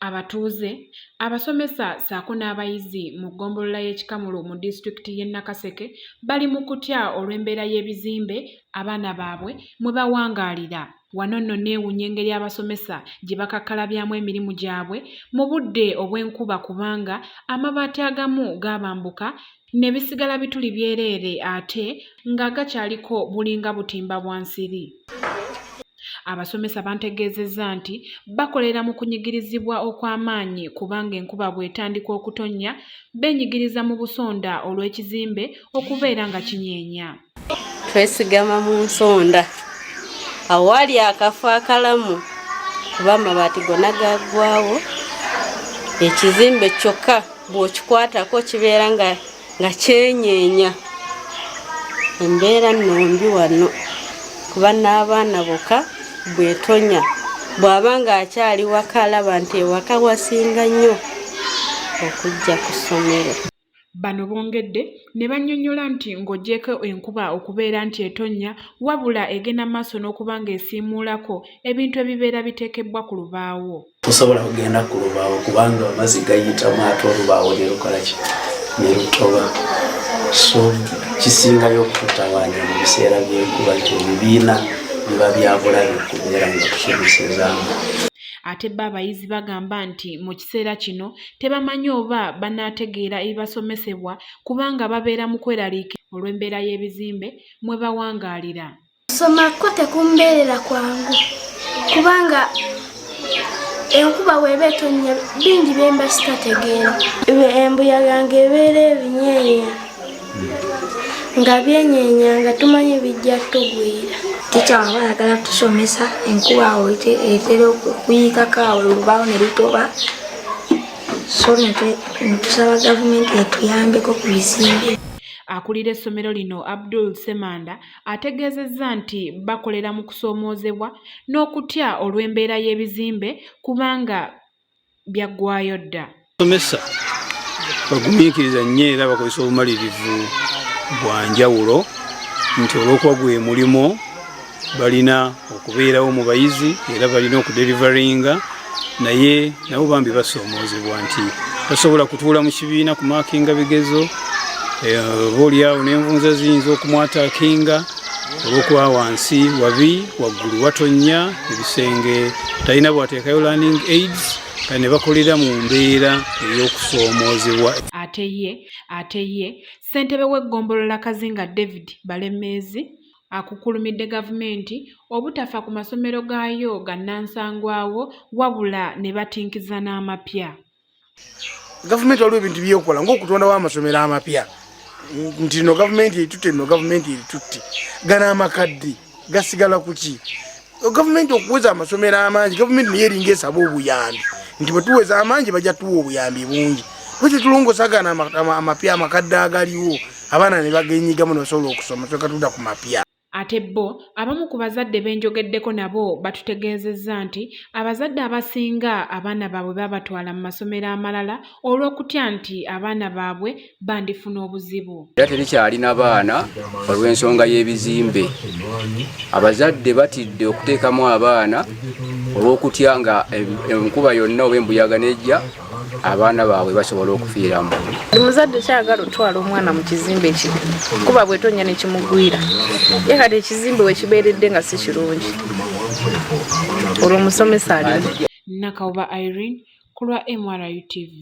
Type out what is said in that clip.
abatuuze abasomesa saako n'abayizi mu ggombolola y'ekikamulu mu disitulikiti y'e nakaseke bali mu kutya olw'embeera y'ebizimbe abaana baabwe mwe bawangaalira wano nno neewunya engeri abasomesa gye bakakkalabyaamu emirimu gyabwe mu budde obw'enkuba kubanga amabaati agamu gaabambuka ne bisigala bituli byereere ate ng'agakyaliko bulinga butimba bwa nsiri. Abasomesa bantegeezezza nti bakolera mu kunyigirizibwa okw'amaanyi kubanga enkuba bw'etandika okutonnya beenyigiriza mu busonda olw'ekizimbe okubeera nga kinyeenya. twesigama mu nsonda awaali akafo akalamu kuba amabaati gona gaggwawo ekizimbe kyokka bw'okikwatako kibeera nga nga kyenyeenya embeera nno mbi wano kuba n'abaana boka bwetonya bw'aba ng'akyali waka alaba nti ewaka wasinga nnyo okujja ku ssomero Bano bongedde ne bannyonnyola nti ng'ogyeko enkuba okubeera nti etonnya wabula egenda maaso n'okuba ng'esiimuulako ebintu ebibeera biteekebbwa ku lubaawo. Tosobola kugenda ku lubaawo kubanga amazzi gayitamu ate olubaawo ne lukolaki ne lutoba so kisingayo okututawaanya mu biseera by'enkuba nti ebibiina biba byabulayo okubeera nga tusobosezaamu. Ate bo abayizi bagamba nti mu kiseera kino tebamanyi oba banaategeera ebibasomesebwa kubanga babeera mu kweraliika olw'embeera y'ebizimbe mwe bawangaalira okusoma kwo tekumbeerera kwangu kubanga enkuba weeba etonnya bingi byemba sitategeera embuyaga nga ebeera ebinyeenya nga byenyeenya nga tumanyi bijja tugwira tica waba ayagala tusomesa enkuba etera okuyiikako awo olubaawo ne lutoba Akulira essomero lino Abdul Semanda ategeezezza nti bakolera mu kusoomoozebwa n'okutya olw'embeera y'ebizimbe kubanga byaggwayo dda. Abasomesa bagumiikiriza nnyo era bakozesa obumalirivu bwa njawulo nti olw'okuba gwe mulimu balina okubeerawo mu bayizi era balina okuderivaringa naye nabo bambi basoomoozebwa nti tasobola kutuula mu kibiina ku maakinga bigezo eh, oba olyawo n'envunza ziyinza okumwataakinga olwokuba wansi wabi waggulu watonnya ebisenge talina bwateekayo learning aids ne bakolera mu mbeera ey'okusoomoozebwa ate ye ate ye ssentebe w'eggombolola kazinga david balemeezi Akukulumidde gavumenti obutafa ku masomero gaayo gannansangwawo wabula ne batinkiza n'amapya. Gavumenti waliwo ebintu byekola ng'okutondawo amasomero amapya nti no gavumenti eritutte no gavumenti eritutte gano amakadde gasigala ku ki gavumenti okuweza amasomero amangi gavumenti naye eringa esaba obuyambi nti bwetuweza amangi bajja tuwa obuyambi bungi bwekyo tulongosagana amapya amakadde agaliwo abaana ne bagenyigamu nosobola okusoma soka tuda ku mapya ate bo abamu ku bazadde benjogeddeko nabo batutegeezezza nti abazadde abasinga abaana baabwe babatwala mu masomero amalala olw'okutya nti abaana baabwe bandifuna obuzibu era terikyalina baana olw'ensonga y'ebizimbe abazadde batidde okuteekamu abaana olw'okutya nga enkuba yonna oba embuyaga nejja abaana baabwe basobola okufiiramu omuzadde kyagala otwala omwana mu kizimbe ekibi kuba bwetonya nekimugwira ye kati ekizimbe wekibeeredde nga si kirungi olwo omusomesa ali nakawuba irene ku lwa mrutv